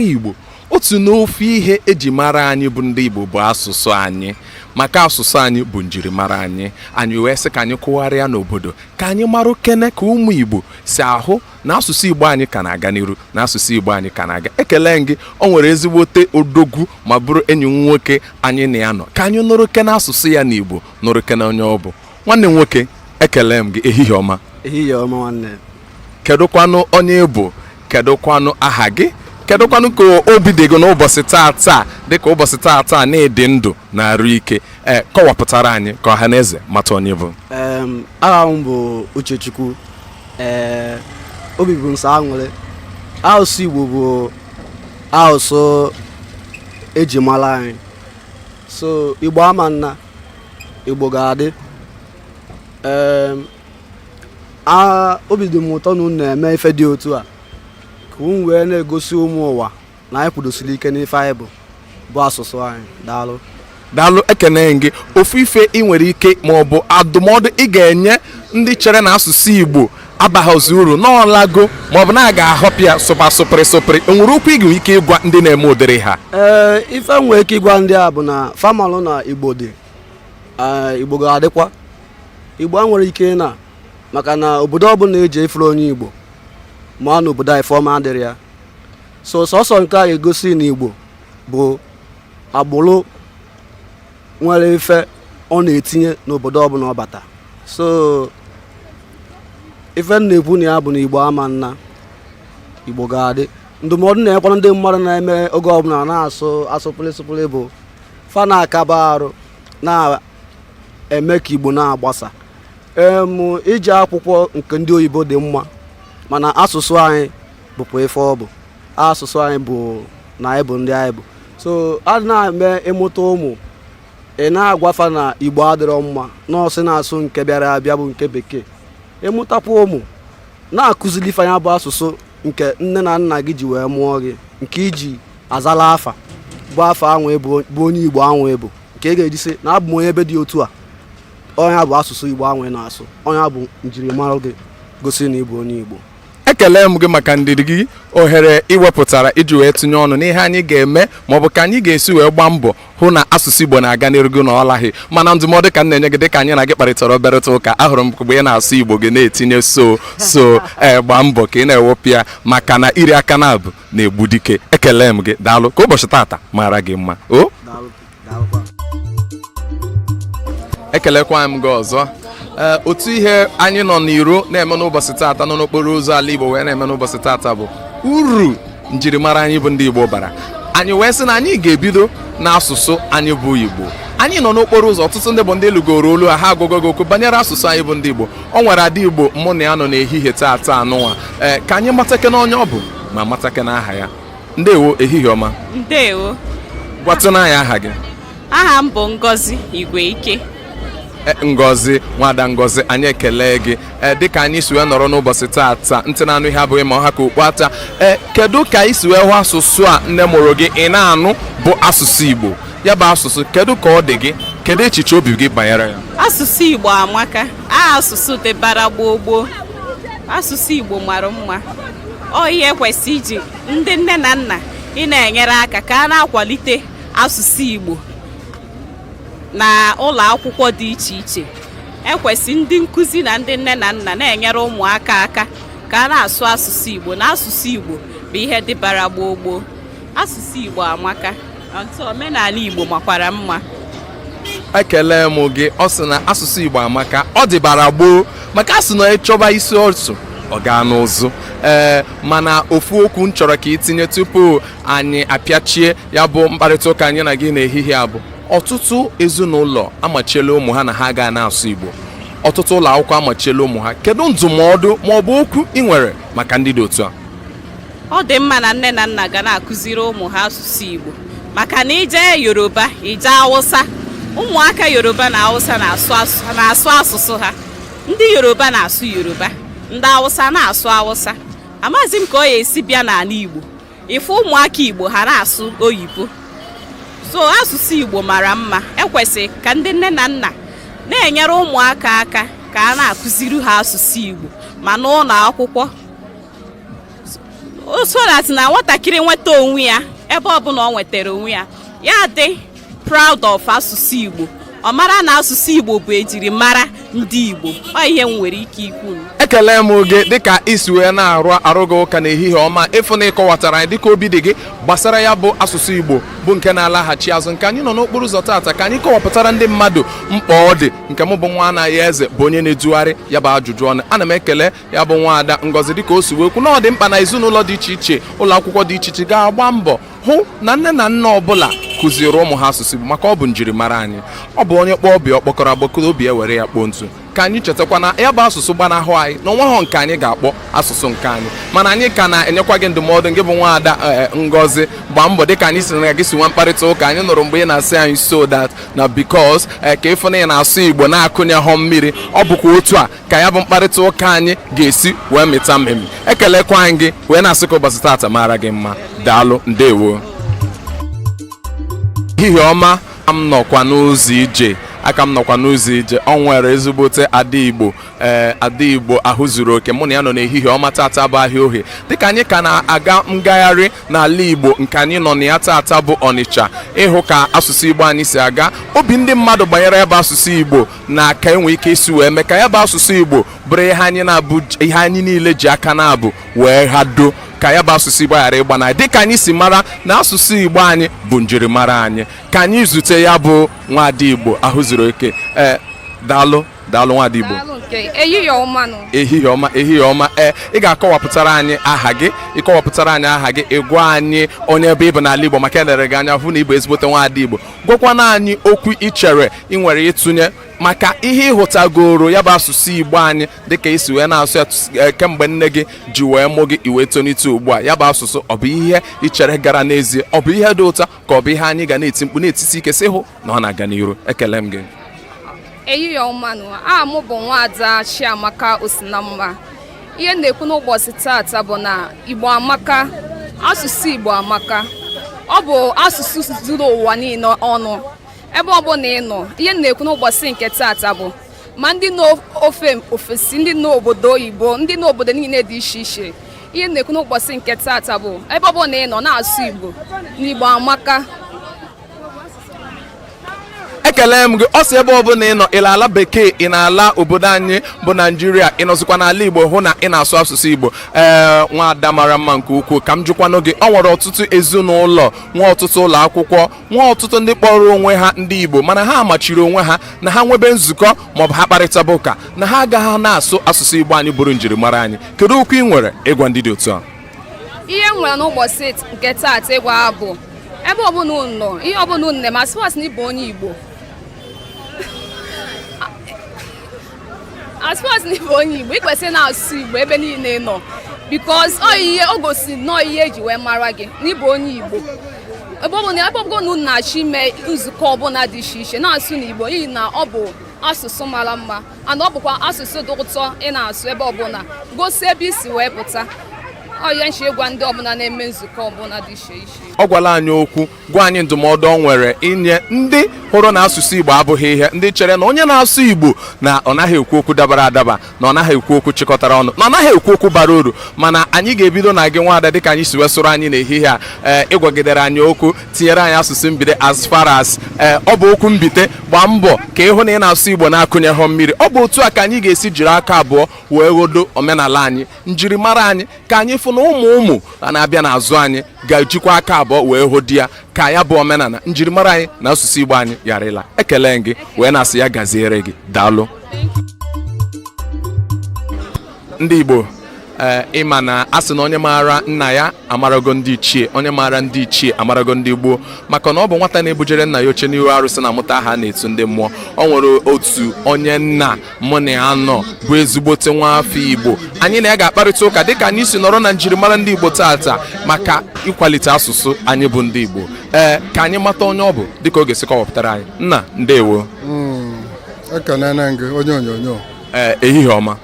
Igbo otu n'ofu ihe eji mara anyị bụ ndị Igbo bụ asụsụ anyị maka asụsụ anyị bụ njirimara anyị anyị wee sị ka anyị kụgharịa n'obodo ka anyị mara kene ka ụmụ Igbo si ahụ na asụsụ Igbo anyị ka na-aga n'iru na asụsụ Igbo anyị ka na-aga ekele m gị o nwere ezigbote odogwu ma bụrụ enyi m nwoke anyị na ya nọ ka anyị nụrụ kene asụsụ ya n'Igbo nụrụ kene onye ọ bụ nwanne m nwoke ekele m gị ehihie ọma ehihie ọma nwanne kedụkwanụ onye ị bụ kedụkwanụ aha gị kedụkwanụ ka obi dị gị n'ụbọchị taa taa dịka ụbọchị taa taa na ị dị ndụ na arụ ike ee kọwapụtara anyị ka ọha na eze mata onye ị bụ Em, aha m bụ uchechukwu ee obi bụ m sọ aṅụrị asụsụ igbo bụ asụsụ eji mara anyị so igbo ama ana Igbo ga-adị obi dị m ụtọ na unu na-eme ife dị otu a ka unu wee na-egosi ụmụ ụwa na anyị kwudosiri ike n'ife anyị bụ bụ asụsụ anyị daalụ daalụ ekene m gị ofu ife i nwere ike ma ọ bụ adụmọdụ ị ga-enye ndị chere na asụsụ Igbo abaghịzi uru na ọ lago maọbụ na a ga-ahapụ ya sụba sụpịrị sụpịrị e nwere okwu ị ga-enwe ike ịgwa ndị na-eme ụdịrị ha ee ife m nwere ike ịgwa ndị a bụ na fa malụ na igbo dị igbo ga-adịkwa igbo enwerọ ike ịna maka na obodo ọbụla i je ị fụrọ onye igbo ma na obodo a ife ọma adịrọ ya so sọsọ nke a ga-egosi na igbo bụ agbụrụ nwere ife ọ na-etinye n'obodo ọbụla ọ bata so ife m na-ekwu na ya bụ na igbo ama ana igbo ga-adị ndụmọdụ m nwekwara ndị mmadụ na-eme oge ọbụla na-asụ sụpụlị sụpụlị bụ fa na-akaba arụ na-eme ka igbo na-agbasa em ije akwụkwọ nke ndị oyibo dị mma mana asụsụ anyị bụkwa ife ọ bụ asụsụ anyị bụ na anyị bụ ndị anyị bụ so a na-eme ị mụta ụmụ ị na-agwa fa na igbo adịrọ mma nọọsụ na-asụ nke bịara abịa bụ nke bekee ị mụtakwa ụmụ na-akụzili fa nya bụ asụsụ nke nne na nna gị ji wee mụọ gị nke i ji azala afa bụ afa anwa bụ onye igbo anwa ị bụ nke ị ga-eji sị na abụ m onye ebe dị otu a ọ nya bụ asụsụ igbo anwa ị na-asụ ọ nya bụ njirimara gị gosi na ị bụ onye igbo ekele m gị maka ndidi gị ohere i wepụtara iji wee tinye ọnụ n'ihe anyị ga-eme ma ọ bụ ka anyị ga-esi wee gbaa mbọ hụ na asụsụ Igbo na-aga n'iru gị na ọ laghị mana ndụmọdụ ka m na-enye gị dịka anyị na gị kparịtara obere ụka ahụrụ m mgbe ị na-asụ Igbo gị na-etinye so so ee eh, gbaa mbọ ka ị na-ewepụ ya maka na iri aka naabọ na-egbu dike ekele m gị daalụ ka ụbọchị tata mara gị mma o ekelekwa m gị ọzọ ee otu ihe anyị nọ n'iro na-eme n'ụbọchị taata nọ n'okporo ụzọ ala igbo wee na-eme n'ụbọchị taata bụ uru njirimara anyị bụ ndị igbo bara anyị wee sị na anyị ga-ebido n'asụsụ anyị bụ igbo anyị nọ n'okporo ụzọ ọtụtụ ndị bụ ndị nụgoro olu ha agwago gị okwu banyere asụsụ anyị bụ ndị igbo o nwere ada igbo mụ na ya nọ n'ehihie taata anụnwa ee ka anyị matakene onye ọ bụ ma matakene aha ya ndewo ehihie ọma ndewo gwatụnụ anyị aha gị aha m bụ Ngozi Igwe Ike e, Ngozi nwada Ngozi anyị ekele gị e, dịka anyị si wee nọrọ n'ụbọchị taata ntị na-anụ ihe abụghị ma ọ ha ka okpu ata e, kedu ka i si wee hụ asụsụ a nne mụrụ gị ị na-anụ bụ asụsụ Igbo ya bụ asụsụ kedu ka ọ dị gị kedu echiche obi gị banyere ya asụsụ Igbo amaka a asụsụ dịbara gboo gboo asụsụ Igbo mara mma ọ ihe kwesị iji ndị nne na nna ị na-enyere aka ka a na-akwalite asụsụ Igbo na ụlọ akwụkwọ dị iche iche ekwesị ndị nkụzi na ndị nne na nna na-enyere ụmụaka aka ka a na-asụ asụsụ Igbo na asụsụ Igbo bụ ihe dịbara gboo gboo asụsụ Igbo amaka Ntụ omenala Igbo makwara mma ekele m gị ọ sị na asụsụ Igbo amaka ọ dịbara gboo maka a sị na ị chọba isi ọsụ ọ gaa n'ụzụ ee eh, mana ofu okwu m chọrọ ka i tinye tupu anyị apịachie ya bụ mkparịta ụka anyị na gị n'ehihie a bụ ọtụtụ ezinụlọ amachiela ụmụ ha na ha ga na-asụ Igbo ọtụtụ ụlọ akwụkwọ amachiela ụmụ ha kedu ndụmọdụ ma ọ bụ okwu ị nwere maka ndị dị otu a ọ dị mma na nne na nna ga na-akụziri ụmụ ha asụsụ Igbo maka na i je Yoruba i je Awụsa ụmụaka Yoruba na Awụsa na-asụ asụsụ ha ndị Yoruba na-asụ Yoruba ndị Awụsa na-asụ Awụsa amaghịzi m ka ọ ya-esi bịa n'anị Igbo ị fụ ụmụaka Igbo ha na-asụ oyibo so asụsụ Igbo mara mma ekwesị ka ndị nne na nna na-enyere ụmụaka aka ka a na-akụziri ha asụsụ Igbo ma n'ụlọ akwụkwọ o so that na nwatakịrị nweta onwe ya ebe ọbụla ọ nwetara onwe ya ya dị proud of asụsụ Igbo ọ mara na asụsụ Igbo bụ ejirimara ndị Igbo ọ ihe m nwere ike ikwu ekele m gị dịka i si wee na-arụ arụ gị ụka n'ehihie ọma ịfụ na ị kọwatara anyị dịka obi dị gị gbasara ya bụ asụsụ Igbo bụ nke na-alaghachi azụ nke anyị nọ n'okporo ụzọ taata ka anyị kọwapụtara ndị mmadụ mkpa ọ dị nke m bụ nwa Anayo Eze bụ onye na-edugharị ya bụ ajụjụ ọnụ ana m ekele ya bụ nwaada ngozi dịka o si wee kwu na ọ dị mkpa na ezinụlọ dị iche iche ụlọ akwụkwọ dị iche iche ga-agba mbọ hụ na nne na nna ọbụla kụziere ụmụ ha asụsụ Igbo maka ọ bụ njirimara anyị ọ bụ onye kpọọ ọba ya mkpọkọrọ agbataobi ya ewere ya kpoo ntụ ka anyị chetakwa na ya bụ asụsụ gbanahụ anyị na onweghọ nke anyị ga-akpọ asụsụ nke anyị mana anyị ka na-enyekwa gị ndụmọdụ gị bụ nwaada eh, ngozi gbaa mbọ dịka anyị si na gị si nwa mkparịta ụka anyị nụrụ mgbe ị na-asị anyị so that na because eh, ka ị fụ na ị na-asụ igbo na-akụnyeghọ mmiri ọ bụkwa otu a ka ya bụ mkparịta ụka anyị ga-esi wee mịta mmemme ekelekwa anyị gị wee na-asị ka ụbọchị taata mara gị mma daalụ ndewo ehihie ọma a ka m nọkwa n'ụzọ ije a ka m nọkwa n'ụzọ ije ọ nwere ezigbote ada igbo ee ada igbo ahụ zuru oke mụ na ya nọ n'ehihie ọma tata bụ ahịa ohe dịka anyị ka na-aga ngagharị n'ala igbo nke anyị nọ na ya tata bụ ọnịcha ịhụ ka asụsụ igbo anyị si aga obi ndị mmadụ banyere ebe asụsụ igbo na ka enwe ike isi wee mee ka ya bụ asụsụ Igbo bụrụ ihe anyị niile ji aka naabọ wee hado ka ya bụ asụsụ Igbo ghara ịgbana dịka anyị si mara na asụsụ Igbo anyị bụ njirimara anyị ka anyị zute ya bụ nwada Igbo ahụ zuru oke ee eh, daalụ daalụ nwada Igbo ehihie ọma ehihie ọma ehihie ọma ee eh, ị ga-akọwapụtara anyị aha gị ị gwa anyị onye ebe ị bụ n'ala Igbo maka e lere gị anya hụ na ị bụ ezigbote nwada Igbo gwakwana anyị okwu ị chere ị nwere ịtụnye maka ihe ị hụtagoro ya bụ asụsụ igbo anyị dịka i si wee na-asụ ya e, kemgbe nne gị ji wee mụ gị i wee tonite ugbu a ya bụ asụsụ ọ bụ ihe ị chere gara n'ezie ọ bụ ihe dị ụtọ ka ọ bụ ihe anyị ga na-eti mkpu na-etisi ike sị hụ na ọ na-aga n'iru ekele m gị ehihie ọmanụ aha m bụ nwaada Chiamaka Osinamma ihe m na-ekwu n'ụbọchị taata bụ na igbo amaka asụsụ igbo amaka ọ bụ asụsụ zuru ụwa niile ọnụ ebe ọbụla ị nọ ihe m na-ekwu n'ụbọchị nke taata bụ ma ndị n'ofe ofesi ndị n'obodo oyibo ndị n'obodo niile dị iche iche ihe m na-ekwu n'ụbọchị nke taata bụ ebe ọbụla ị nọ na-asụ igbo na igbo amaka ekele m gị ọ sị ebe ọbụla ị nọ ị nọ ala bekee ị nọ ala obodo anyị bụ naijiria ị nọzikwa n'ala igbo hụ na ị na-asụ asụsụ igbo ee nwaada mara mma nke ukwuu ka m jụkwanụ gị ọ nwere ọtụtụ ezinụlọ nwa ọtụtụ ụlọ akwụkwọ nwa ọtụtụ ndị kpọrọ onwe ha ndị igbo mana ha machiri onwe ha na ha nwebe nzukọ maọbụ ha kparịtaba ụka na ha agaghị na-asụ asụsụ igbo anyị bụrụ njirimara anyị kedu okwu ị nwere ịgwa ndị dị otu a ihe m nwere n'ụbọchị nke taata ịgwa ha bụ ebe ọbụla unu nọ ihe ọbụla unu na-eme a sị na ị bụ onye Igbo as far as na ị bụ onye Igbo ị kwesịrị na-asụ Igbo ebe niile ị nọ because o gosiri nnọọ ihe e ji wee mara gị na ị bụ onye Igbo ebe ọ bụla ebe ọbụla unu na-achọ ime nzukọ ọbụla dị iche iche na-asụnụ Igbo n'ihi na ọ bụ asụsụ mara mma and ọ bụkwa asụsụ dị ụtọ ị na-asụ ebe ọbụla gosi ebe i si wee pụta ọ ya m ji agwa ndị ọbụla na-eme nzukọ ọbụla dị iche iche ọ gwala anyị okwu gwa anyị ndụmọdụ ọ nwere inye ndị hụrụ na asụsụ igbo abụghị ihe ndị chere na onye na-asụ igbo na ọ naghị ekwu okwu dabara adaba na ọ naghị ekwu okwu chịkọtara ọnụ na ọ naghị ekwu okwu bara uru mana anyị ga-ebido na gị nwaada dịka anyị si wee soro anyị n'ehihie a ee ị gwagidere anyị okwu tinyere anyị asụsụ mbite as far as eh, ọ bụ okwu mbite gbaa mbọ ka ị hụ na ị na-asụ igbo na-akụnyehọ mmiri ọ bụ otu a ka anyị ga-esi jiri aka abụọ wee ghodo omenala anyị njirimara anyị ka anyị fụ na ụmụ ụmụ a na-abịa n'azụ anyị ga-ejikwa aka abụọ wee hodo ya ka ya bụ omenala njirimara anyị na asụsụ igbo anyị ghara ịla ekele m gị wee na-asị ya gaziere gị daalụ ndị Igbo eh, ị ma na a sị na onye maara nna ya amarago ndị ichie onye maara ndị ichie amarago ndị gboo maka na ọ bụ nwata na-ebujere nna ya oche n'ihu arụsị na-amụta aha a na-etu ndị mmụọ ọ nwere otu onye nna mụ na ya nọ bụ ezigbote nwa afọ Igbo anyị na ya ga-akparịta ụka dịka anyị si nọrọ na njirimara ndị Igbo taata maka ịkwalite asụsụ anyị bụ ndị Igbo ee eh, ka anyị mata onye ọ bụ dịka ọ ga-esi kọwapụtara anyị nna ndewo ekenee m gị onye onyonyo ee ehihie ọma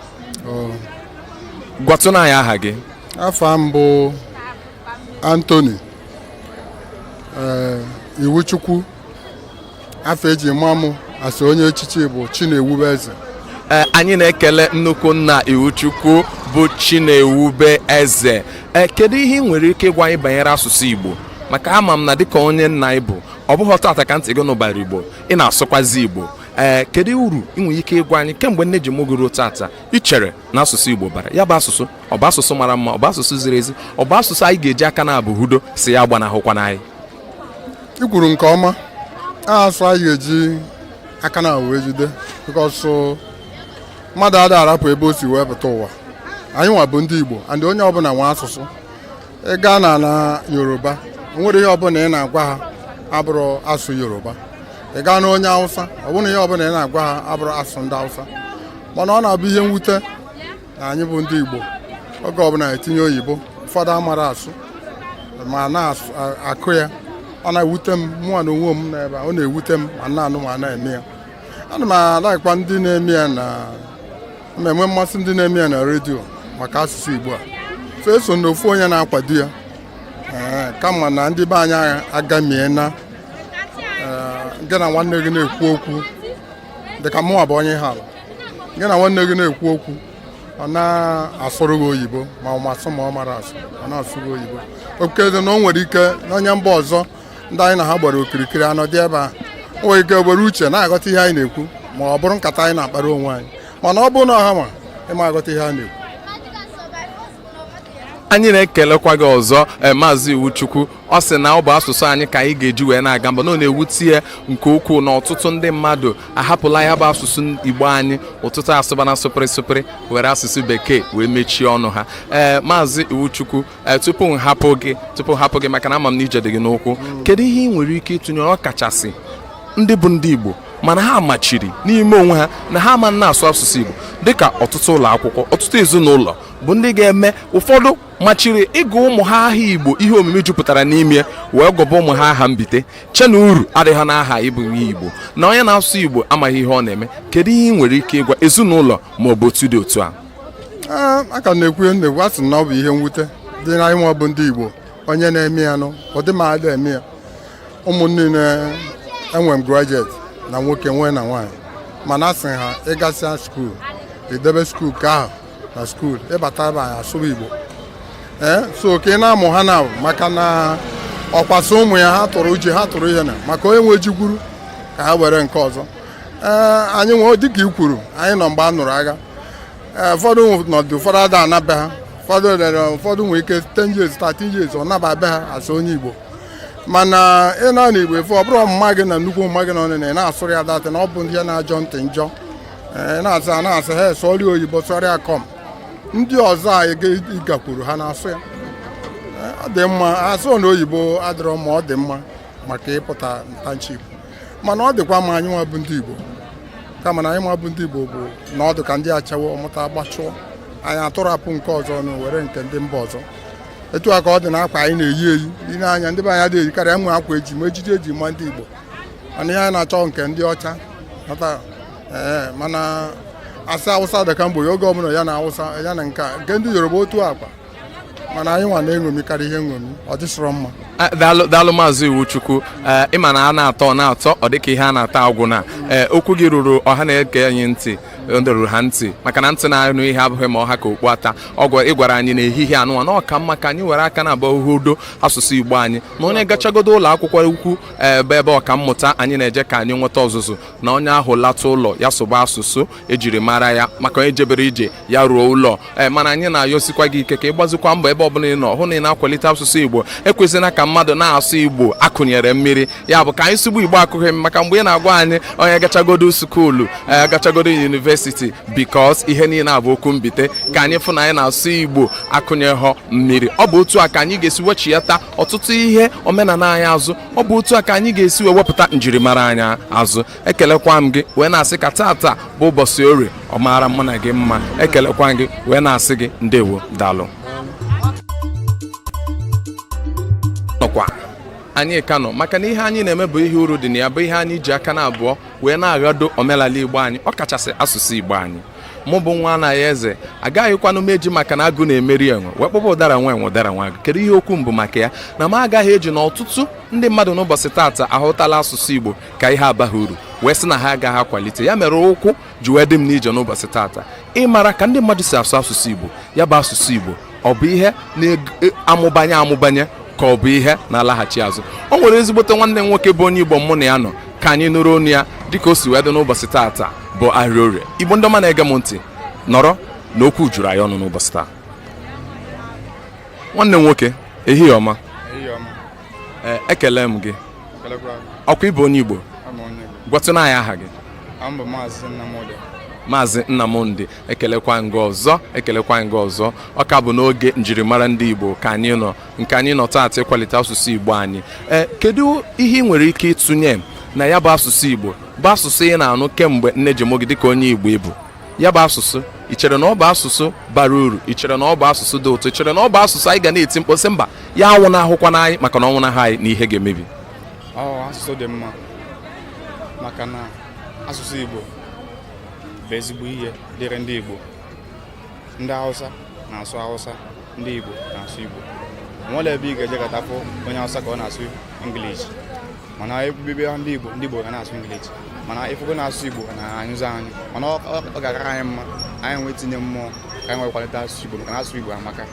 gwatụnụ anyị aha gị afa m bụ Anthony ee Iwuchukwu afa e ji ma mụ as onye echichi bụ Chinewube Eze ee anyị na-ekele nnukwu nna Iwuchukwu bụ Chinewube Eze ee kedu ihe ị nwere ike ịgwa anyị banyere asụsụ Igbo maka ama m na dịka onye nna ị bụ ọ bụghị taata ka ntị gị nụbara Igbo ị na-asụkwazi Igbo ee eh, kedu uru ị nwere ike ịgwa anyị kemgbe nne ji mụọ gị ruo taata ị chere na asụsụ Igbo bara ya bụ asụsụ ọ bụ asụsụ mara mma ọ bụ asụsụ ziri ezi ọ bụ asụsụ anyị ga-eji aka naabọ hodo sị ya agbanahụkwana anyị i kwuru nke ọma asụ anyị ga-eji aka naabọ wee jide because mmadụ ada arapụ ebe o si wee pụta ụwa anyịnwa bụ ndị Igbo and onye ọbụla nwe asụsụ ị gaa na ala yoruba o nwere ihe ọbụla ị na-agwa ha abụrụ asụ yoruba ị gaa na onye awụsa ọ bụrụ ihe ọbụla ị na-agwa ha abụrụ asụ ndị awụsa mana ọ na-abụ ihe mwute na anyị bụ ndị igbo oge ọbụla e tinye oyibo ụfọdụ amarọ asụ ma na-akụ ya ọ na-ewute m mụnwa na onwe m n'ebe ọ na-ewute m ma na-anụ ma na-eme ya ana m alikekwa ndị na-eme ya na m na-enwe mmasị ndị na-eme ya na redio maka asụsụ Igbo a so eso m na ofu onye na-akwado ya ee kama na ndị be anyị agamie na ee, gị na nwanne gị na-ekwu okwu dịka mụnwa bụ onye Ihiala gị na nwanne gị na-ekwu okwu ọ na-asụrụ gị oyibo ma ọ ma asụ ma ọ marọ asụ ọ na-asụrụ gị oyibo okay na o nwere ike n'onye mba ọzọ ndị anyị na ha gbara okirikiri anọ dị ebe a nwere ike were uche na-aghọta ihe anyị na-ekwu ma ọ bụrụ nkata anyị na-akpara onwe anyị mana ọ bụrụ na ọha ma ịma aghọta ihe a na-ekwu anyị na-ekelekwa gị ọzọ eh, maazị iwuchukwu ọ sị na ọ bụ asụsụ anyị ka anyị ga-eji wee na-aga mba na ọ na-ewute ya nke ukwuu na ọtụtụ ndị mmadụ ahapụla ya bụ asụsụ igbo anyị ọtụtụ asụbana sụpịrị sụpịrị were asụsụ bekee wee mechie ọnụ ha ee maazị iwuchukwu Eh, tupu m hapụ gị tupu m hapụ gị maka na ama m na ije dị gị n'ụkwụ mm. kedu ihe ị nwere ike ịtụnye ọ kachasị ndị bụ ndị Igbo mana ha machiri n'ime onwe ha na ha ama na-asụ asụsụ Igbo dịka ọtụtụ ụlọ akwụkwọ ọtụtụ ezinụlọ bụ ndị na-eme ụfọdụ machiri ịgụ ụmụ ha aha Igbo ihe omimi jupụtara n'ime wee gụba ụmụ ha aha mbite che na uru adịghị n'aha ịbụ ihe Igbo na onye na-asụ Igbo amaghị ihe ọ na-eme kedu ihe ị nwere ike ịgwa ezinụlọ ma ọ bụ otu dị otu a a ka na-ekwu na-ekwu asị na ọ bụ ihe mwute dị na anyị nwa bụ ndị Igbo onye na-eme ya nụ ụdị m ada eme ya ụmụ m niine enwe m graduate na nwoke nwee na nwaanyị mana asị ha ịgasịa skuul idebe skuul ka ahụ na skuul ịbata be anyị asụba Igbo ee so ka ị na-amụ ha na maka na ọkwa sị ụmụ ya ha tụrụ ji ha tụrụ ihe na maka onye nwe ji gwuru ka ha were nke ọzọ ee anyị nwee dịka i kwuru anyị nọ mgbe a nụrụ agha Eh, ụfọdụ nọdụ ụfọdụ ada ana be ha ụfọdụ rere ụfọdụ nwere ike 10 years 13 years ọ naba be ha asụọ ya igbo mana ị na na igbo efe ọ bụrụ mama gị na nnukwu mama gị na ọnụ na ị na-asụrụ ya datị na ọ bụ ndị ya na-ajọ ntị njọ Eh, ị na-asị a na-asị ha sụọrịa oyibo sụọrịa kọm ndị ọzọ a ị ga- ị gakwuru ha na-asụ ya Eh, ọ dị mma asụ na oyibo adịrọ mma ọ dị mma maka ịpụta ntanchi igbo mana ọ dịkwa mma anyị nwa bụ ndị Igbo kama na anyị nwa bụ ndị Igbo bụ na ọ dị ka ndị ọcha ọmụta agbachụọ anyị atụrapụ nke ọzọ na-ewere nke ndị mba ọzọ etu a ka ọ dị na akwa anyị na-eyi eyi dị n'anya ndị be anyị ada eyikarịa nwe akwa eji ma ejiji eji ma ndị Igbo mana ihe anyị na-achọ nke ndị ọcha ee mana asị awụsa dịka mgbe oge ọbụla ya na awụsa ya na nke nke ndị Yoruba otu a kwa mana anyị nwa na-eṅomi karịa ihe nṅomi ọ dịsịrọ mma Eh, daalụ daalụ maazị iwuchukwu ee eh, ịma na a na-atọ ọ na-atọ ọ dịka ihe a na-ata agwụna ee eh, okwu gị ruru ọha na-ege anyị ntị ndoruru ha ntị maka na ntị na-anụ ihe abụghị ma ọ ha ka okpu ata ọgwa ị gwara anyị na ehihie anụnwa na ọ ka mma ka anyị were aka naabọ hedo asụsụ igbo anyị na onye gachagodo ụlọ akwụkwọ ukwu ebe ebe ọkammụta anyị na-eje ka anyị nweta ọzụzụ na onye ahụ lata ụlọ ya sụba asụsụ ejiri mara ya maka onye jebere ije ya ruo ụlọ ee eh, mana anyị na-ayọsikwa gị ike ka ị gbazikwa mbọ ebe ọbụla ị nọ hụ na ị na-akwalite asụsụ igbo ekwezina ka mmadụ na-asụ igbo a kụnyere mmiri ya bụ ka anyị sụọ igbo igbo akụghị maka mgbe ị na-agwa anyị onye gachagodo school eh, gachagodo university because ihe niile a bụ okwu mbite ka anyị fụ na anyị na-asụ igbo akụnyeghọ mmiri ọ bụ otu a ka anyị ga-esi wechiyata ọtụtụ ihe omenala anyị azụ ọ bụ otu a ka anyị ga-esi wee wepụta njirimara anyị azụ ekelekwa m gị wee na-asị ka tata bụ ụbọchị orie ọ maara mụ na gị mma ekelekwa m gị wee na-asị gị ndewo daalụ nọkwa anyị ka nọ maka na ihe anyị na-eme bụ ihe uru dị na ya bụ ihe anyị ji aka naabụọ wee na-aghado omenala igbo anyị ọ kachasị asụsụ igbo anyị mụ bụ nwa anaghị eze agaghịkwanụ m eji maka na agụ na-emeri enwe wee kpọba ụdara nwa enwe ụdara nwa agụ kedu ihe okwu m bụ maka ya na m agaghị eji na ọtụtụ ndị mmadụ n'ụbọchị taata ahụtala asụsụ igbo ka ihe abaghị uru wee sị na ha agaghị akwalite ya mere ụkwụ ji wee dị m n'ije n'ụbọchị tata ịmara ka ndị mmadụ si asụ asụsụ Igbo ya bụ asụsụ Igbo ọ bụ ihe na-amụbanye e, amụbanye ka ọ bụ ihe na-alaghachi azụ o nwere ezigbote nwanne m nwoke bụ onye Igbo mụ na ya nọ ka anyị nụrụ ọnụ ya dịka o si wee dị n'ụbọchị tata bụ ahịa orie Igbo ndị ọma na-ege m ntị nọrọ na okwu juru anyị ọnụ n'ụbọchị taa nwanne m nwoke ehihie ọma Ee, ekele m gị ọ kwa ị bụ onye igbo gwatụna anyị aha gị Aha m bụ Maazị Nnamdi. maazị nnamdi ekelekwa m gị ọzọ ekelekwa m gị ọzọ ọ ka bụ n'oge njirimara ndị igbo ka anyị nọ nke anyị nọ taata ịkwalite asụsụ igbo anyị ee kedu ihe ị nwere ike ịtụnye na ya bụ asụsụ igbo bụ asụsụ ị na-anụ kemgbe nne ji mụọ gị dịka onye igbo ị bụ ya bụ asụsụ ị chere na ọ bụ asụsụ bara uru ị chere na ọ bụ asụsụ dị ụtọ ị chere na ọ bụ asụsụ anyị ga na-eti mkpu sị mba ya anwụnahụkwana anyị maka na ọ nwụnahụ anyị na ihe ga-emebi ọ asụsụ dị mma maka na asụsụ Igbo bụ ezigbo ihe dịrị ndị Igbo ndị Hausa na-asụ Hausa ndị Igbo na-asụ Igbo nwerọ ebe ị ga-ejekata fụ onye Hausa ka ọ na-asụ English mana ị bịa be ndị Igbo ndị Igbo ga na-asụ English mana ị fụgo na ịsụ Igbo na-anyịzi anyị mana ọ ga-akara anyị mma anyị nwee tinye mmụọ ka anyị nwee kwalite asụsụ Igbo maka na asụsụ Igbo amaka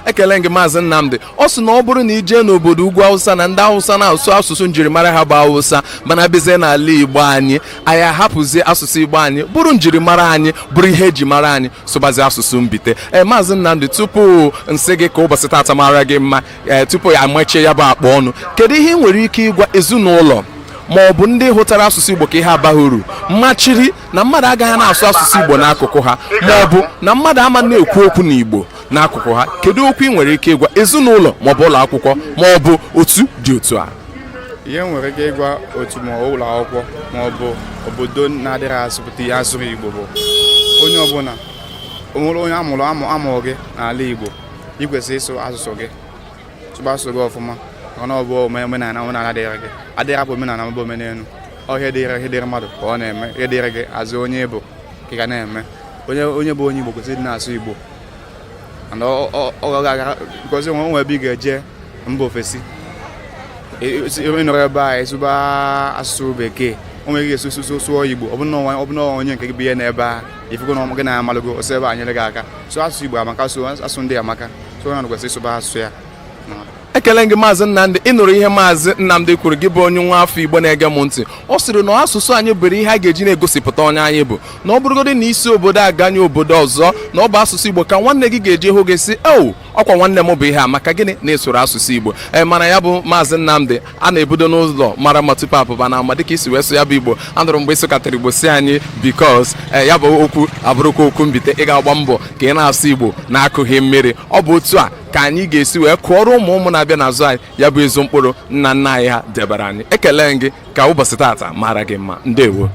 ekele m gị maazị Nnamdị ọ sị na ọ bụrụ na i jee n'obodo ugwu awụsa na ndị awụsa na-asụ asụsụ njirimara ha bụ awụsa mana bịazie n'ala igbo anyị anyị ahapụzie asụsụ igbo anyị bụrụ njirimara anyị bụrụ ihe eji mara anyị sụbazi asụsụ mbite ee eh, maazị Nnamdị tupu m sị gị ka ụbọchị taata mara gị mma ee eh, tupu a machie ya bụ akpa ọnụ kedu ihe ị nwere ike ịgwa ezinụlọ ma ọ bụ ndị hụtara asụsụ Igbo ka ihe abaghị uru machiri na mmadụ agaghị na-asụ asụsụ Igbo n'akụkụ ha ma ọ bụ na mmadụ ama na-ekwu okwu n'Igbo n'akụkụ ha kedu okwu ị nwere ike ịgwa ezinụlọ ma ọ bụ ụlọ akwụkwọ ma ọ bụ otu dị otu a ihe nwere ike ịgwa otu ma ụlọ akwụkwọ ma ọ bụ obodo na-adịghị asụpụta ihe asụrụ Igbo bụ onye ọbụla onwere onye amụrụ amụ amụrụ gị n'ala Igbo ị kwesịrị ịsụ asụsụ gị sụba asụsụ gị ọfụma maka na ọ bụ omenala omenala dịrị gị adịghị apụ omenala mebe omenelu ọhịa dịrị ihe dịrị mmadụ ka ọ na-eme ihe dịrị gị as onye Igbo ka ị ga na-eme onye bụ onye Igbo kwesịrị ịdị na-asụ Igbo ọ ga-aga because o nwe o nwe ebe ị ga-eje mba ofesi ị nọrọ ebe a ị sụba asụsụ bekee onwe gị ga-esi sụsụ sụọ igbo ọ bụ na onye nke gị bụ ihe n'ebe a i fugo na gị na ya amalụgo o si ebe a nyere gị aka so asụsụ igbo amaka so asụsụ ndị amaka so onye ọbụla kwesịrị ịsụba asụsụ ya ekele gị maazị nnamdị ị nụrụ ihe maazị nnamdị kwuru gị bụ onye nwa afọ igbo na-ege m ntị ọ sịrị na asụsụ anyị bụrụ ihe a ga-eji na-egosipụta onye anyị bụ na ọ bụrụgodị na i si obodo a ganye obodo ọzọ na ọ bụ asụsụ igbo ka nwanne gị ga-eji hụ gị sị ewo ọkwa nwanne m bụ ihe a maka gịnị na ị sụrụ asụsụ igbo ee mana ya bụ maazị nnamdị a na-ebido n'ụlọ mara mma tupu a pụba n'ama dịka i si wee sụọ ya bụ igbo anụrụ m mgbe ị sụkatara igbo sị anyị because ee ya bụ okwu abụrụkwa okwu mbite ị ga-agba mbọ ka ị na-asụ igbo na-akụghị mmiri ọ bụ otu a ka anyị ga-esi wee kụọrọ ụmụ ụmụ na-abịa n'azụ anyị ya bụ ezi mkpụrụ nna nna anyị ha debara anyị ekele gị ka ụbọchị taata mara gị mma ndewo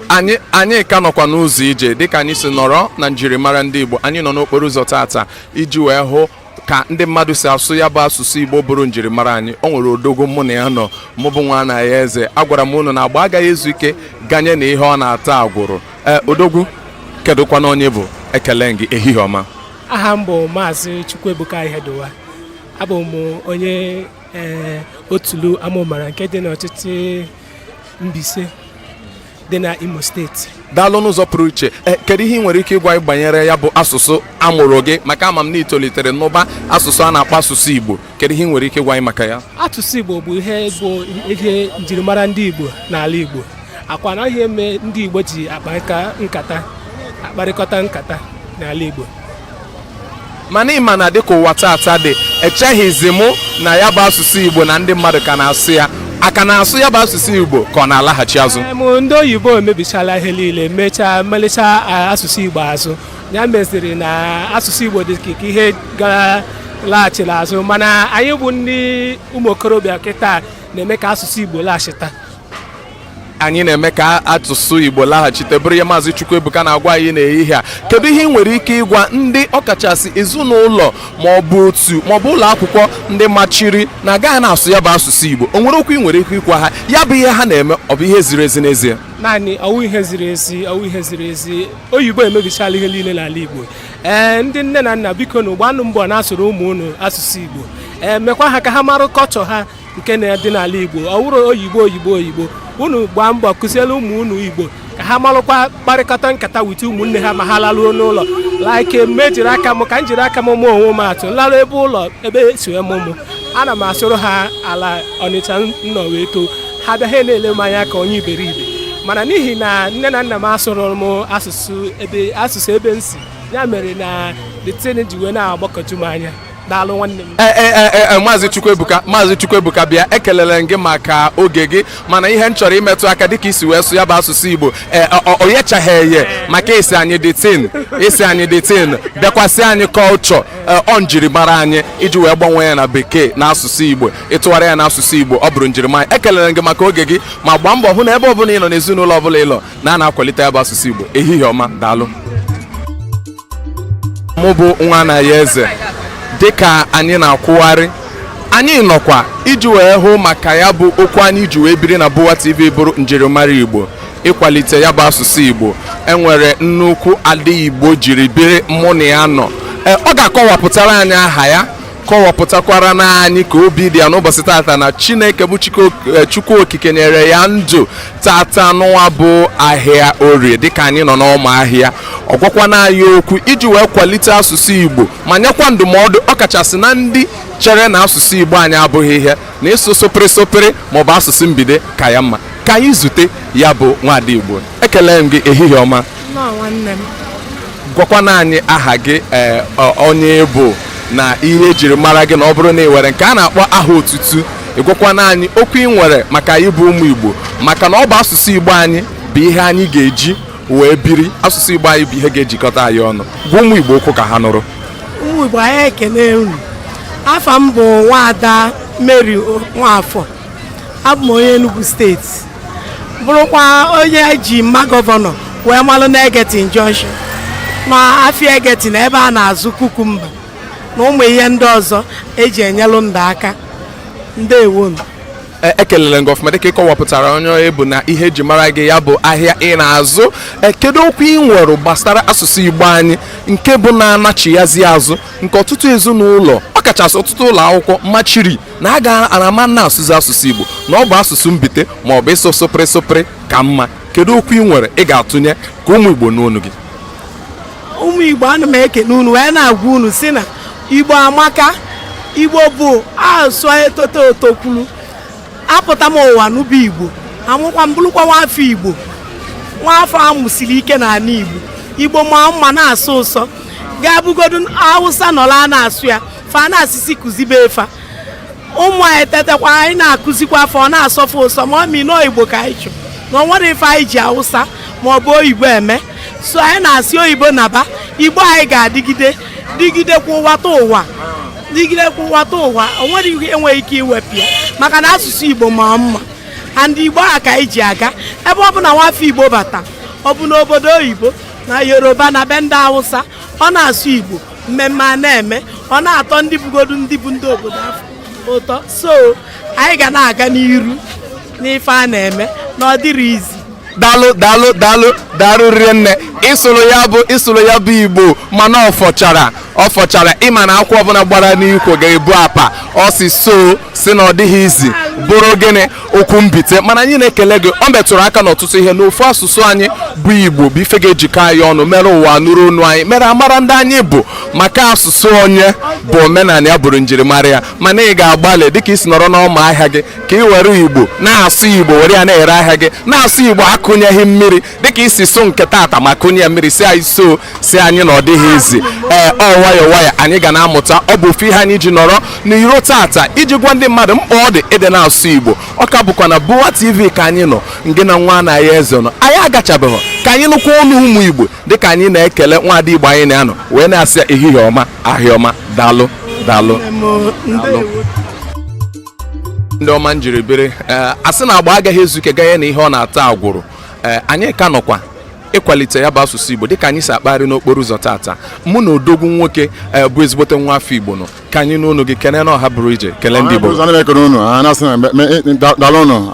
anyị anyị ka nọkwa n'ụzọ ije dịka anyị si nọrọ na njirimara ndị Igbo anyị nọ n'okporo ụzọ taata iji wee hụ ka ndị mmadụ si asụ ya bụ asụsụ igbo bụrụ njirimara anyị o nwere odogwu mụ na ya nọ mụ bụ nwa na-ayọ eze agwara m unu na agba agaghị ezu ike ganye na ihe ọ na-ata agwụrụ ee odogwu kedụkwanụ onye ị bụ ekele gị ehihie ọma aha m bụ maazị chukwuebuka ihediwa abụ m onye ee otulu amụmara nke dị n'ọchịchị Mbaise dị na Imo steeti daalụ n'ụzọ pụrụ iche eh, kedu ihe ị nwere ike ịgwa anyị banyere ya bụ asụsụ a mụrụ gị maka ama m na i tolitere n'ụba asụsụ a na-akpọ asụsụ Igbo kedu ihe ị nwere ike ịgwa anyị maka ya asụsụ Igbo bụ ihe bụ ihe njirimara ndị Igbo n'ala Igbo akwa na ihe eme ndị Igbo ji akparịta nkata akparịkọta nkata n'ala Igbo mana ị ma na dịka ụwa taata dị echeghịzi mụ na ya bụ asụsụ igbo na ndị mmadụ ka na-asụ ya a ka na-asụ ya bụ asụsụ igbo ka ọ na-alaghachi azụ Em, ndị oyibo emebichala ihe niile mechaa melicha a, asụsụ igbo azụ ya meziri na asụsụ igbo dị ka ka ihe gara laghachiri azụ mana anyị bụ ndị ụmụ okorobịa kịta na-eme ka asụsụ igbo laghachita anyị na-eme ka asụsụ Igbo laghachite bụrụ ihe maazị Chukwuebuka na-agwa anyị n'ehihie a kedu ihe ị nwere ike ịgwa ndị ọkachasị ezinụlọ ma ọ bụ otu ma ọ bụ ụlọ akwụkwọ ndị machiri na agaghị na-asụ ya bụ asụsụ Igbo o nwere okwu ị nwere ike ịgwa ha ya bụ ihe ha na-eme ọ bụ ihe ziri ezi n'ezie naanị ọwụ ihe ziri ezi ọwụ ihe ziri ezi oyibo emebichala ihe niile n'ala Igbo ee ndị nne na nna biko nụ gbaanụ mbọ na-asụrụ ụmụ unu asụsụ Igbo ee mekwa ha ka ha marụ kọlchọ ha nke na-adị n'ala Igbo ọ wụrụ oyibo oyibo oyibo unu gbaa mbọ kụziere ụmụ unu Igbo ka ha marụkwa kparịkọta nkata with ụmụnne ha ma ha laruo n'ụlọ like m ejiri aka m ka m jiri aka m maa onwe m atụ m larụ ebe ụlọ ebe esi wee mụọ m ana m asụrụ ha ala Ọnịcha m nọ wee too ha bịa ha na-ele m anya ka onye iberibe mana n'ihi na nne na nna m asụrụ m asụsụ ebe asụsụ ebe m si ya mere na the thing ji wee na-agbakọju m anya daalụ nwanne m Eh, eh, eh, eh, maazị chukwuebuka maazị chukwuebuka bịa ekelere m gị maka oge gị mana ihe m chọrọ imetụ aka dịka i si wee sụ ya bụ asụsụ igbo eh, ọ- ọ- ọ yechaghị eye maka ị sị anyị the thing ị sị anyị the thing bịakwa sị anyị kọlchọ ọ njirimara anyị iji wee gbanwee ya na bekee na asụsụ igbo ịtụgharị ya na asụsụ igbo ọ bụrụ njirimara ekelere m gị maka oge gị ma gbaa mbọ hụ na ebe ọbụla ị nọ n'ezinụlọ ọbụla ị nọ na a na-akwalite ya bụ asụsụ igbo ehihie ọma daalụ mụ bụ nwa Anayọeze dịka anyị na-akwụgharị anyị nọkwa iji wee hụ maka ya bụ okwu anyị ji wee biri na Bụwa TV bụrụ njirimara Igbo ịkwalite ya bụ asụsụ Igbo enwere nnukwu ada Igbo jiri biri mụ na ya nọ e, ọ ga-akọwapụtara anyị aha ya kọwapụtakwarana anyị ka obi dị ya n'ụbọchị tata na Chineke bụ Chukwu e, Okike nyere ya ndụ tata nụwa bụ ahịa orie dịka anyị nọ n'ọma ahịa ọ gwakwana anyị okwu iji wee kwalite asụsụ igbo ma nyekwa ndụmọdụ ọkachasị na ndị chere na asụsụ igbo anyị abụghị ihe na ịsụ sụpịrị sụpịrị maọbụ asụsụ mbite ka ya mma ka anyị zute ya bụ nwaada igbo ekele m gị ehihie ọma gwakwana anyị aha gị eh, onye ị bụ na ihe ejiri mara gị na ọ bụrụ na ị nwere nke a na-akpọ aha otutu ị gwakwana anyị okwu ị nwere maka anyị bụ ụmụ Igbo maka na ọ bụ asụsụ Igbo anyị bụ ihe anyị ga-eji wee biri asụsụ Igbo anyị bụ ihe ga-ejikọta anyị ọnụ gwa ụmụ Igbo okwu ka ha nụrụ ụmụ Igbo anyị ekele unu afa m bụ nwaada Mary Nwafọ abụ m onye Enugu steeti bụrụkwa onye eji mma gọvanọ wee malụ na Egerton junction na afịa Egerton ebe a na-azụ kukumba na ụmụ ihe ndị ọzọ eji enyelụ ndụ aka ndewonu ekelele m gị ọfụma dịka ị kọwapụtara onye ị bụ na ihe eji mara gị ya bụ ahịa ị na-azụ e, kedu okwu ị nwere gbasara asụsụ igbo anyị nke bụ na-anachighazi azụ nke ọtụtụ ezinụlọ ọkachasị ọtụtụ ụlọ akwụkwọ machiri na a ga-ama na-asụzi asụsụ Igbo na ọ bụ asụsụ mbite ma ọ bụ ịsụ sụpịrị sụpịrị ka mma kedu okwu ị nwere ị ga-atụnye ka ụmụ Igbo nụ onu gị ụmụ Igbo ana m ekene unu wee na-agwa unu sị na Igbo amaka Igbo bụ asụsụ etoto etokwuru apụta m ụwa n'ụba Igbo a mụkwa m bụrụkwa nwaafọ Igbo nwaafọ a mụsiri ike n'ala Igbo Igbo ma mma na-asọ ụsọ ga-abụgodu Hausa nọla na-asụ ya fa na-asị sị kụzibee fa ụmụ anyị tetakwa anyị na-akụzikwaa fa ọ na-asọ fa ụsọ ma ọ mi nọọ igbo ka anyị chọ na o nwere ife anyị ji awụsa ma ọ bụ oyibo eme so anyị na-asị oyibo naba igbo anyị ga-adịgide dịgidekwa ụwatụwa dịgidekwa ụwatụwa o nwere ihe enweghị ike iwepụ ya maka na asụsụ igbo ma mma and igbo a ka anyị ji aga ebe ọbụna nwafọ igbo bata ọ bụ n'obodo oyibo na yoruba na be ndị awụsa ọ na-asụ igbo mmemme a na-eme ọ na-atọ ndị bụgodu ndị bụ ndị obodo afụ ụtọ so anyị ga na-aga n'iru n'ife a na-eme na ọ dịrọ easy daalụ daalụ daalụ daalụ riri nne ị sụrụ ya bụ ị sụrụ ya bụ igbo mana ọ fọchara ọ fọchara ị ma na akwụ ọbụla gbara n'ikwo ga-ebu apa ọ sị so sị na ọ dịghị easy bụrụ gịnị okwu mbite mana anyị na-ekele gị o metụrụ aka n'ọtụtụ ihe n'ofu asụsụ anyị bụ igbo bụ ife ga-ejikọ anyị ọnụ mere ụwa nụrụ onu anyị mere a mara ndị anyị bụ maka asụsụ onye bụ omenala ya bụrụ njirimara ya mana ị ga-agbalị dịka i si nọrọ n'ọma ahịa gị ka i were igbo na-asụ igbo were ya na-ere ahịa gị na-asụ igbo akụnyeghị mmiri dịka i si sụọ nke tata ma kụnye ya mmiri sị anyị so sị anyị na ọ dịghị easy ee ọ nwayọ nwayọ anyị ga na-amụta ọ bụ ofu ihe anyị ji nọrọ n'iro tata iji gwa ndị mmadụ mkpa ọ dị ịdị na-asụ igbo ọ ka bụkwa na Boa TV ka anyị nọ ngị na nwa Anayo Eze nọ anyị agachabeghị ka anyị nụkwa ọnụ ụmụ igbo dịka anyị na-ekele nwaada igbo anyị na ya nọ wee na-asị ya ehihie ọma ahịa ọma daalụ daalụ daalụ ndị ọma m jiri biri ee a sị na agba agaghị ezu ike ganye na ihe ọ na-ata agwụrụ ee anyị ka nọkwa ịkwalite ya bụ asụsụ igbo dịka anyị si akpagharị n'okporo ụzọ tata mụ na odogwu nwoke ee, bụ ezigbote nwa afọ igbo nọ ka anyị nụ onu gị kelee na ọha bụrụ ije kelee ndị igbo Ọha bụ ekele unu a na-asị na me- me- da- daalụ unu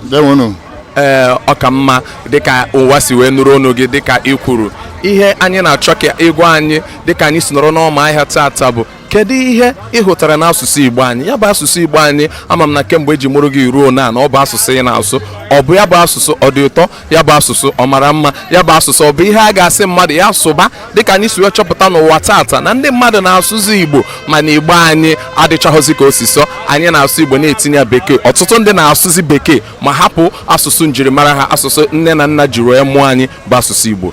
ndeewo unu ee ọ ka mma dịka ụwa si wee nụrụ onu gị dịka i kwuru ihe anyị na-achọ ka ị gwa anyị dịka anyị si nọrọ n'ọma ahịa tata bụ kedu ihe ị hụtara n'asụsụ igbo anyị ya bụ asụsụ igbo anyị ama m na kemgbe e ji mụrụ gị ruo na na ọ bụ asụsụ ị na-asụ ọ bụ ya bụ asụsụ ọ dị ụtọ ya bụ asụsụ ọ mara mma ya bụ asụsụ ọ bụ ihe a ga-asị mmadụ ya sụba dịka anyị si wee chọpụta n'ụwa tata na ndị mmadụ na-asụzi igbo mana igbo anyị adịchaghịzi ka o si so anyị na-asụ igbo na-etinye ya bekee ọtụtụ ndị na-asụzi bekee ma hapụ asụsụ njirimara ha asụsụ nne na nna jiri wee mụọ anyị bụ asụsụ igbo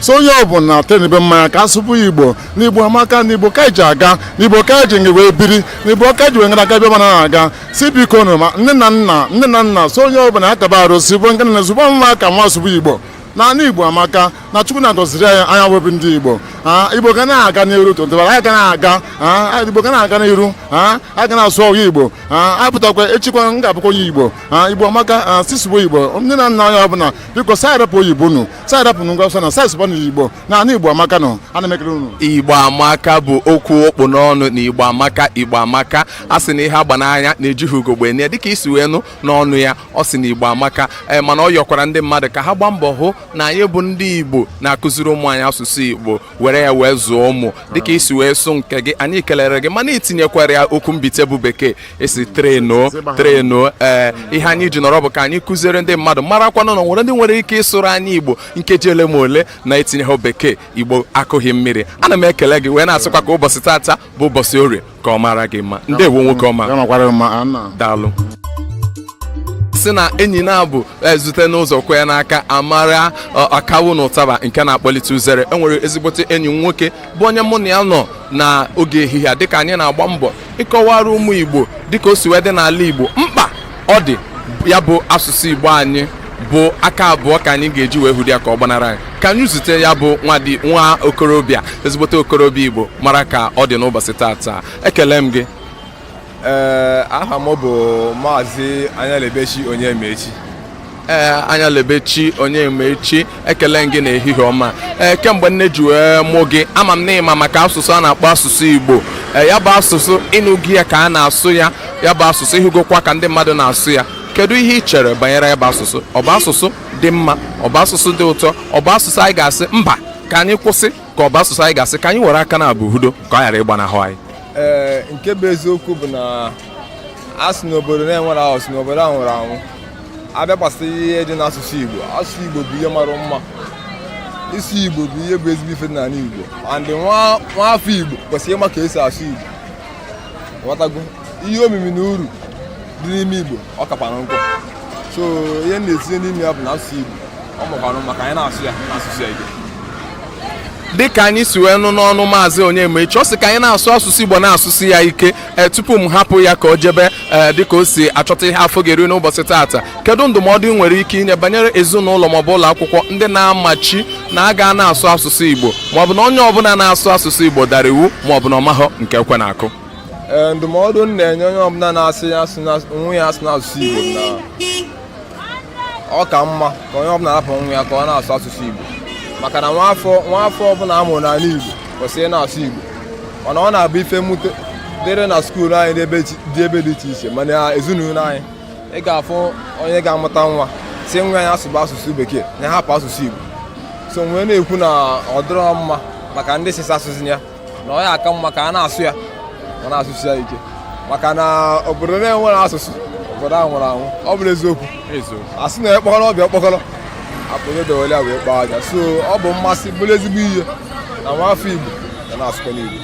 so onye ọ bụla atenibe mmanya ka a sụba ya igbo n'igbo amaka n'igbo ka iji aga n'igbo ka iji ngị wee biri n'igbo ka ji wee ngara aga ebe m na-aga si biko nụ ma nne na nna nne na nna so onye ọ bụla akaba arụ si bụ nke na ezigbo nwa ka nwa asụba igbo naanị igbo amaka na chukwu na-agọziri anyị anyị wee bụ ndị igbo igbo ga na-aga n'iru tụtụbara anyị ga na-aga igbo ga na-aga n'iru anyị ga na-asụ ọhụụ igbo apụtakwa echikwa m ga-abụkwa onye igbo igbo amaka sị sụba igbo ndị na nna onye ọbụla biko sị anyị rapụ oyibo nụ sị anyị rapụnụ ngwa ọsọ na sị anyị sụbanụ igbo na anụ igbo amaka nọ ana m ekele unu igbo amaka bụ okwu ọ kpụ n'ọnụ na igbo amaka igbo amaka a sị na ihe a gba n'anya na-ejighị ugogbe enyo ya dịka i si wee nụ n'ọnụ ya ọ sị na igbo amaka ee mana ọ yọkwara ndị mmadụ ka ha gbaa mbọ hụ na anyị bụ ndị igbo na-akụziri ụmụ anyị asụsụ igbo were ya wee zụọ ụmụ dịka i si wee sụ nke gị anyị kelere gị mana i tinyekwara ya okwu mbite bụ bekee ị sị trainụọ trainụọ ee ihe anyị ji nọrọ bụ ka anyị kụziere ndị mmadụ marakwanụ na o nwere ndị nwere ike ịsụrụ anyị igbo nkeji ole ma ole na-etinyehọ bekee igbo akụghị mmiri ana m ekele gị wee na-asịkwa ka ụbọchị tata bụ ụbọchị orie ka ọ mara gị mma ndewo nwoke ọma ya makwara gị mma nna daalụ sị na enyi na-abụ e zute n'ụzọ kwee n'aka amara ọ, akawo na ụtaba nke na-akpọlite uzere enwere ezigbote enyi m nwoke bụ onye mụ na ya nọ na oge ehihie a dịka anyị na-agba mbọ ịkọwara ụmụ igbo dịka o si wee dị n'ala igbo mkpa ọ dị ya bụ asụsụ igbo anyị bụ aka abụọ ka anyị ga-eji wee hudo ya ka ọ gbanara anyị ka anyị zute ya bụ nwadi nwa okorobịa ezigbote okorobịa igbo mara ka ọ dị n'ụbọchị tata ekele m gị ee aha m bụ maazị anyalebechi onyemaechi ee eh, anyalebechi onyemaechi ekele m gị na ehihie ọma ee eh, kemgbe nne ji wee mụọ gị ama m na ị ma maka asụsụ a na-akpọ asụsụ igbo ee eh, ya bụ asụsụ ị nụgo ya ka a na-asụ ya ya bụ asụsụ ị hụgokwa ka ndị mmadụ na-asụ ya kedu ihe ị chere banyere ya bụ asụsụ ọ bụ asụsụ dị mma ọ bụ asụsụ dị ụtọ ọ bụ asụsụ anyị ga-asị mba ka anyị kwụsị ka ọ bụ asụsụ anyị ga-asị ka anyị were aka naabọ hudo ka ọ ghara ịgbanahụ anyị ee nke bụ eziokwu bụ na a sị n'obodo na-enwero asụsụ n'obodo ahụ nwụrụ anwụ a bịa gbasara ihe dị n'asụsụ Igbo asụsụ Igbo bụ ihe mara mma ịsụ Igbo bụ ihe bụ ezigbo ife n'ala Igbo and nwa afọ Igbo kwesịrị ịma ka esi asụ Igbo ghọtago ihe omimi na uru dị n'ime Igbo ọ kakwara nkụ so ihe na-etinye n'ime ya bụ na asụsụ Igbo ọ makwanụ mma ka anyị na-asụ ya na-asụsi ya ike dịka anyị si wee nụ n'ọnụ maazị Onyemaechi ọ sị ka anyị na-asụ asụsụ Igbo na-asụsi ya ike e, tupu m hapụ ya ka o jebe e, dịka o si achọta ihe afọ ga-eri n'ụbọchị taata kedu ndụmọdụ ị nwere ike inye banyere ezinụlọ maọbụ ụlọ akwụkwọ ndị na-amachi na a ga na-asụ asụsụ igbo maọbụ na onye ọbụla na-asụ asụsụ igbo dara iwu maọbụ na ọ mahọ nke ekwe na-akụ e, ndụmọdụ m na-enye onye ọbụla na-asị ya asụna onwe ya asụna asụsụ igbo na ọ ka mma ka onye ọbụla rapụ nwa ya ka ọ na-asụ asụsụ Igbo maka na nwa afọ ọbụla a mụrụ n'ala Igbo kwesịrị na-asụ Igbo mana ọ na-abụ ife mwute dịrị na skuulu anyị dị ebe dị iche iche ma n'ezinụlọ anyị ị ga-afụ onye ga-amụta nwa sị nwa ya asụba asụsụ bekee na hapụ asụsụ Igbo so m wee na-ekwu na ọ dịrọ mma maka ndị sịsa asụsụ ya na ọ ya-aka mma ka a na-asụ ya ma na-asụsi ya ike maka na obodo na-enwerọ asụsụ obodo ahụ nwụrụ anwụ ọ bụrụ eziokwu a sị na ekpọkọrọ ọbịa ọkpọkọrọ akpụrụ dowere wee kpaa aja so ọ bụ mmasị bụrụ ezigbo ihe na nwa afọ igbo ga na-asụkọ n'igbo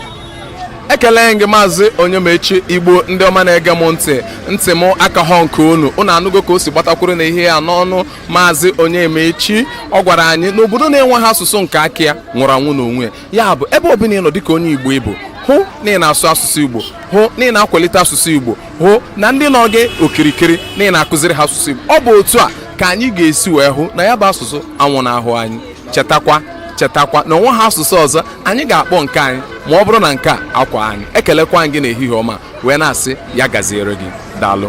ekele m gị maazị onyemechi igbo ndị ọma na-ege m ntị ntị m akaghị nke unu unu anụgo ka o si gbatakwuru n'ihe a n'ọnụ maazị onyemechi ọ gwara anyị na obodo na-enweghị asụsụ nke aka ya nwụrụ anwụ n'onwe ya ya bụ ebe ọbụla ị nọ dịka onye igbo ị bụ hụ na ị na-asụ asụsụ igbo hụ na ị na-akwalite asụsụ igbo hụ na ndị nọ gị okirikiri na ị na-akụziri ha asụsụ igbo ọ bụ otu a ka anyị ga-esi wee hụ na ya bụ asụsụ anwụnahụ anyị chetakwa chetakwa na o nweghị asụsụ ọzọ anyị ga-akpọ nke anyị ma ọ bụrụ na nke a akwaa anyị ekelekwa anyị gị n'ehihie ọma wee na-asị ya gaziere gị daalụ